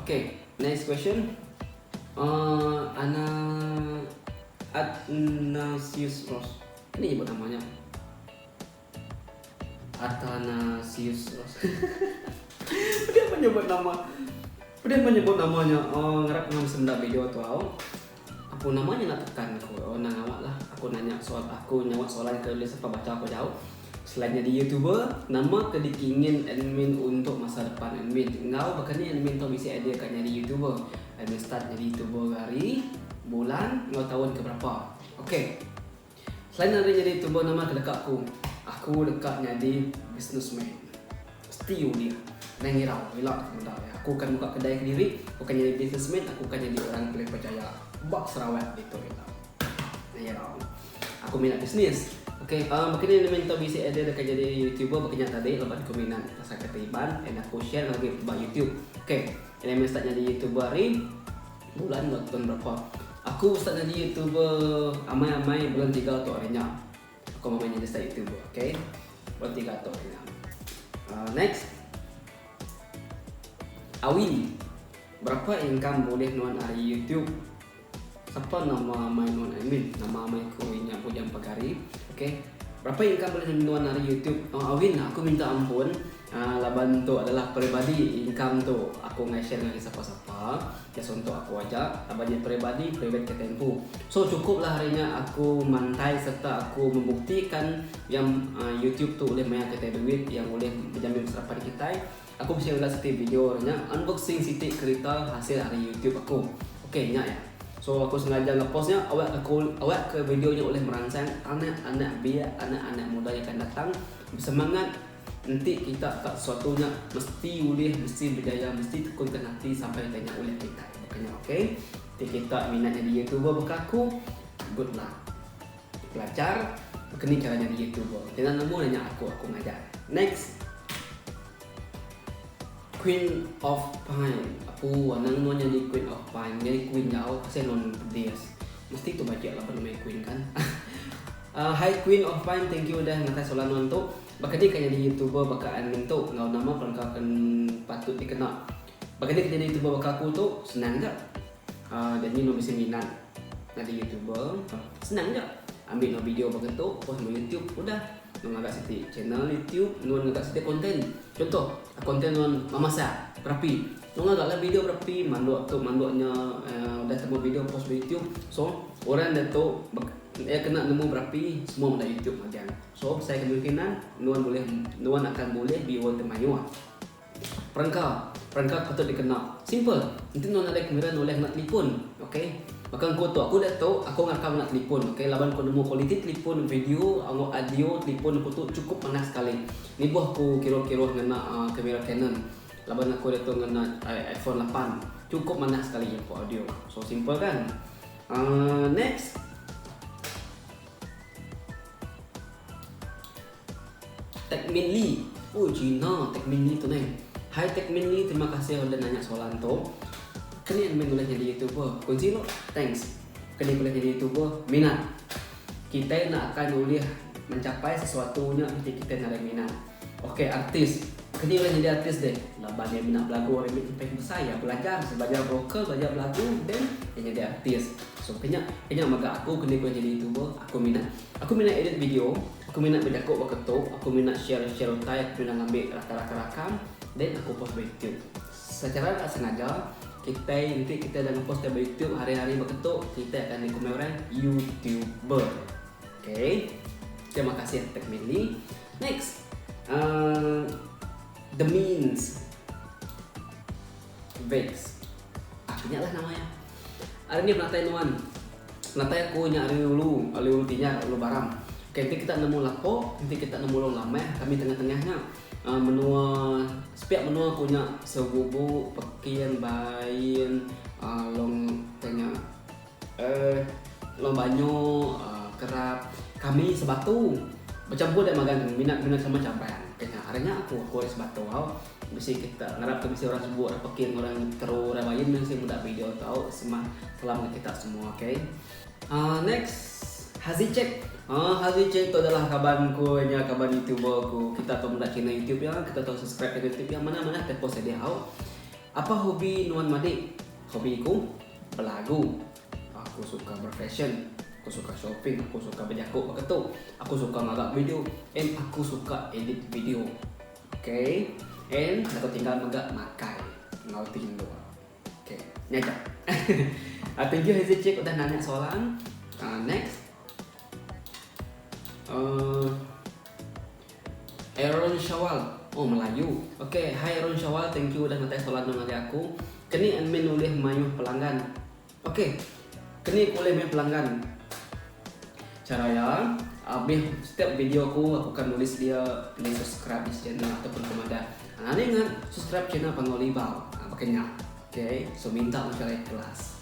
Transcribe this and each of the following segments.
Ok next question uh, Ana Athnasius Ross Ini nyebut nama nya Athanasius Ross Pedih menyebut nama Pedih menyebut nama nya uh, Ngarap ngam senda video tu au Aku nama nya enda tekan aku oh enda ngawa lah aku nanya soal aku nyauh soalan ke nulis apai bacha aku jauh selain nyadi youtuber nama ke dikingin admin untuk masa depan admin enggau baka ni admin tu bisi idea ka nyadi youtuber admin start nyadi youtuber ga hari bulan enggau taun ke berapa ok. Selain ari nyadi tuba nama ke deka aku, aku deka nyadi businessman. Mesti ulih. Nadai ngira ila ke pengudah iya. Aku akan muka kedai kediri, aku akan nyadi businessman, aku akan nyadi orang ke ulih bejaya ba Sarawak ditu ila. Nadai ngira. Aku mina bisnis. Ok, uhh baka ni lemen entu bisi idea deka nyadi youtuber baka nya tadi laban aku mina pasal kereta Iban and aku share lagu nya ba youtube. Ok, ila meh start nyadi youtuber ari. Bulan ba tun berapa. Aku start nyadi youtuber amai amai bulan tiga tu hari nya. Aku amai amai nyadi start youtuber ok. Bulan tiga tu hari nya. Uh, next. Awi. Berapa income boleh nuan ari youtube? Sapa nama amai nuan I mean nama amai ku inya bujang pagari. Ok. Berapa income boleh nuan ari youtube? Awin aku minta ampun. Aa laban tu adalah peribadi income tu aku enggai share ngagai sapa sapa just untuk aku aja laban nya peribadi private ke tempu so cukup lah hari nya aku mantai serta aku membuktikan yang aa youtube tu ulih maia kitai duit yang ulih bejamin masa rapan kitai aku bisi ngaga siti video hari nya unboxing siti kerita hasil ari youtube aku ok nya ya so aku sengaja ngepost nya awak ke kul awak ke video nya ulih meransang anak anak biak anak anak muda yang akan datang besemangat. Enti kita tak sesuatu nya mesti ulih mesti bejaya mesti tekunkan ati sampai ke nya ulih kita baka nya ok enti kita minat nyadi youtuber baka aku good luck belajar baka ni chara nyadi youtuber jangan lemu nanya aku aku ngajar next. Queen of Pine Apu anang nuan nyadi Queen of Pine nyadi Queen nyau asai nuan pedis mesti tu bajik laban meh Queen kan uh, Hi Queen of Pine thank you udah ngatai soalan nuan tu baka ni ka nyadi youtuber baka admin tu enggau nama perengka ken patut dikena baka ni ka nyadi youtuber baka aku tu senang ga. Haa jadi no bisi minat nyadi youtuber. Senang ja. Ambi no video baka tu post no youtube udah. No ngaga siti channel youtube nuan ngaga siti konten. Contoh konten nuan memasak, berapi. No ngaga lah video berapi mandok tu mandok nya uhh udah temu video post ba youtube. So orang nya tu iya kena nemu berapi semua benda youtube magang. So besai kemungkinan nuan bulih nuan akan bulih viewer ti mayuh. Perengka, perengka ke patut dikena. Simple. Enti nuan nadai kamera nulih ngena telefon. Ok. Baka engku tu aku udah tu aku ngakal ngena telefon ok laban ku nemu kualiti telefon video enggau audio telefon aku tu chukup manah sekali. Nibuh aku kiruh-kiruh ngena uhh kamera canon laban aku ditu ngena iphone lapan. Chukup manah sekali iya for audio. So simple kan. Uhh next. Techminly, ooh Gina techminly tu neh. Hai techminly terima kasih udah nanya soalan tu. Kening meh ulih nyadi youtuber? Kunsi lo, thanks. Kening ulih nyadi youtuber? Minat. Kitai enda akan ulih mencapai sesuatu nya enti kitai enda ada minat. Ok artis, kening ulih nyadi artis deh? Laban iya menda belagu ari meh ipai ke besai iya belajar, belajar vokal, belajar belagu then iya nyadi artis. So ke nya, ke nya mega aku kening ulih nyadi youtuber, aku minat. Aku minat edit video. Aku mina bejaku baka tu, aku mina share share utai, aku mina ngambi raka raka rakam then aku post ba youtube. Secara enda sengaja kitai enti kitai udah ngepost ka ba youtube hari hari baka tu kitai akan di komen orang youtuber. Okay. Terima kasih tag Mandy. Next. Uh, the means. Vance. Ah ke nya lah nama iya. Ari nih penatai nuan. Penatai aku nya ari ulu, ari ulu Tinyar, ulu Baram. Okey enti kita nemu lapo, enti kita nemu long lameh kami tengah-tengah nya aaa menua sepiak menua aku nya Sebubu, Pekin, Bain, aaa long tanya. Long banyu kerap kami sebatu bechampur dia magang kami mina guna sama caban ke nya ari nya aku aku ari sebatu tau bisi kita ngarap ke bisi orang subu orang pekeng orang tero orang bayun meh bisi muda video tau semah salam ngan kita semua ok uhh next hazi check uhh hazi check tu adalah kaban ku nya kaban youtuber ku kita tau meda channel youtube iya kita tau subscribe channel youtube iya manah manah ke post agi hau apa hobi nuan madik hobi ku. Belagu. Aku suka berfashion. Aku suka shopping. Aku suka bejaku baka tu. Aku suka ngaga video. And aku suka edit video. Okay. And aku tinggal mega makai enggau ti endur. Okay. Nya aja. Ah, thank you Hazel Cik udah nanya soalan. Ah, next. Uh, Aaron Shawal, oh melayu. Ok, hi Aaron Shawal, thank you udah ngetai soalan tu ngagai aku. Keni admin ulih mayuh pelanggan? Ok, keni ulih mayuh pelanggan. Chara iya, abih setiap video aku, aku akan nulis dia pilih subscribe this channel ataupun aku madah, ha ni ngan subscribe channel Panggau Libau. Ha baka nya. Ok, so minta mega ikhlas.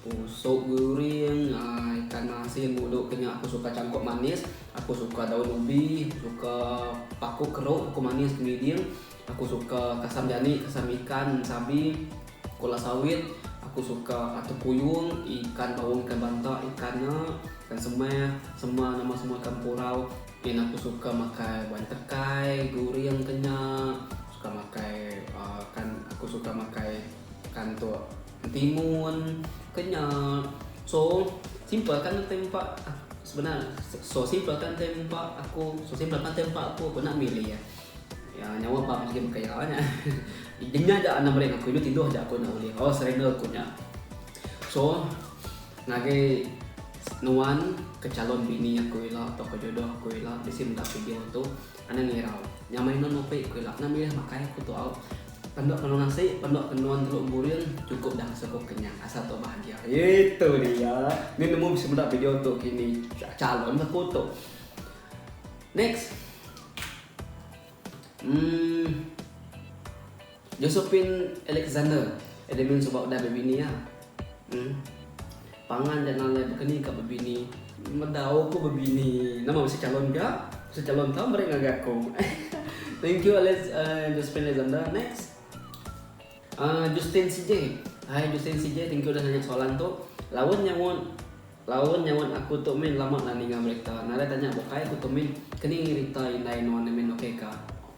Ku sup guring ikan asin mulu ke nya aku suka changkok manis aku suka daun ubi aku suka pakok kerok pakok manis kemiding aku suka kasam jani kasam ikan sabi kola sawit aku suka atuk kuyung ikan baung ikan banta ikan nya ikan semeh semua nama semua ikan purau ngin aku suka makai bua entekai guring ke nya suka makai uhh kan aku suka makai ikan tu. Ketimun, kenyal, so simple kan nanti empat ah, sebenar so simple kan nanti empat aku so simple kan nanti empat aku aku nak milih ya ya nyawa empat pergi makan ya nya denya aja anak mereka aku ini tidur aja aku nak boleh oh serena aku nya so ngagai nuan ke calon bini aku ila atau ke jodoh aku ila bisi meda video tu Anang ngirau. Nyamai non Opik, ku ila. Nan milih makai aku tu au. Pendok tenun nasi, pendok tenun teluk empuring cukup dah ngasuh aku kenyang asal tau bahagia. Itu dia. Ni nemu bisi meda video tu kini. Calon ke aku tu. Next. Umm. Josephine Alexander Elemen suba udah bebini iya. Em. Pangan ja nalai bekeni ka bebini. Meda oh ku bebini nama bisi calon ga? Bisi calon tau meri ngagai aku. Thank you Alex uh, Josephine Alexander. Next. Uh, Justin CJ. Hai Justin CJ, thank you udah nanya soalan tu. Laun nyaut Laun nyaut aku tu min lama enda ninga berita nadai tanya bukai aku tu min keni rita indai nuan ni min okey ka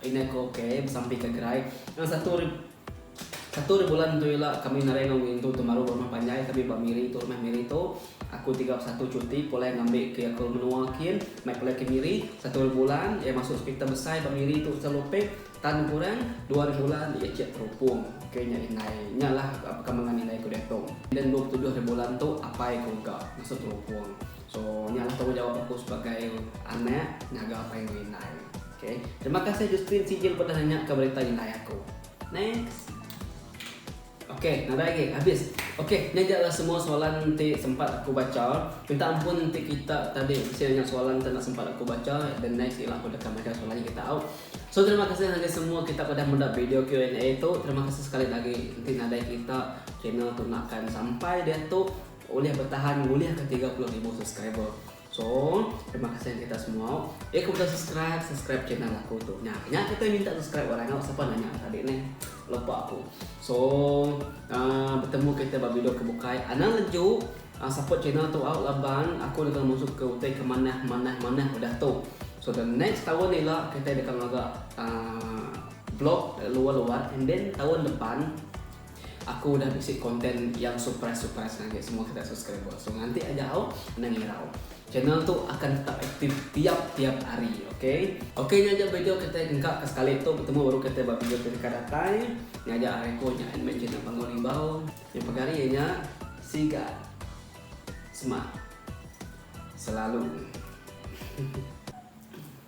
indai ko okey besampi ka gerai enda satu ri satu ri bulan tu ila kami naring enggau ngintu tu baru rumah panjai kami ba miri tu rumah miri tu aku tiga puluh satu cuti pulai ngambi ke aku menua kin mai pulai ke miri satu ri bulan iya masuk hospital besai ba miri tu hospital opek. Tan kurang dua ribu bulan di icik terupung ke nya indai. Nya lah pekambangan indai ku diatung. Enda dua puluh tujuh ribu bulan tu apai ku mega masu terupung. So nya lah tanggungjawap aku sebagai anak ngaga apai enggau indai. Okay. Terima kasih Justin Sijil pernah nanya ka berita indai aku. Next. Ok nadai agi habis. Ok nya ja lah semua soalan ti sempat aku baca. Minta ampun enti kita tadi besia nya soalan tu enda sempat aku baca the next ila aku deka majak soalan nya kita au. So terima kasih ngagai semua kita ke udah meda video Q&A tu. Terima kasih sekali dah agi enti nadai kita channel tu enda akan sampai diatu ulih betahan ngulih ke tiga puluh ribu subscriber. So, terima kasih ngan kita semua. Eh, aku udah subscribe, subscribe channel aku tu. Nah, nya kita minta subscribe orang ngau siapa nanya tadi ni. Lupa aku. So, uh, bertemu kita ba video ke bukai. Anang leju uh, support channel tu out laban aku nak masuk ke utai ke manah manah manah udah tu. So the next tahun ni lah kita akan ngaga uh, vlog luar-luar and then tahun depan Aku udah bisi konten yang surprise surprise ngagai semua kita subscriber. So nganti aja au endang irau. Channel tu akan tetap aktif tiap tiap hari. Okay. Okay nya aja video kita engka ke sekali tu betemu baru kita ba video ti deka datai. Nya aja ari aku nya admin channel Bangau Limbau. Nya pegari iya nya siga semak selalu.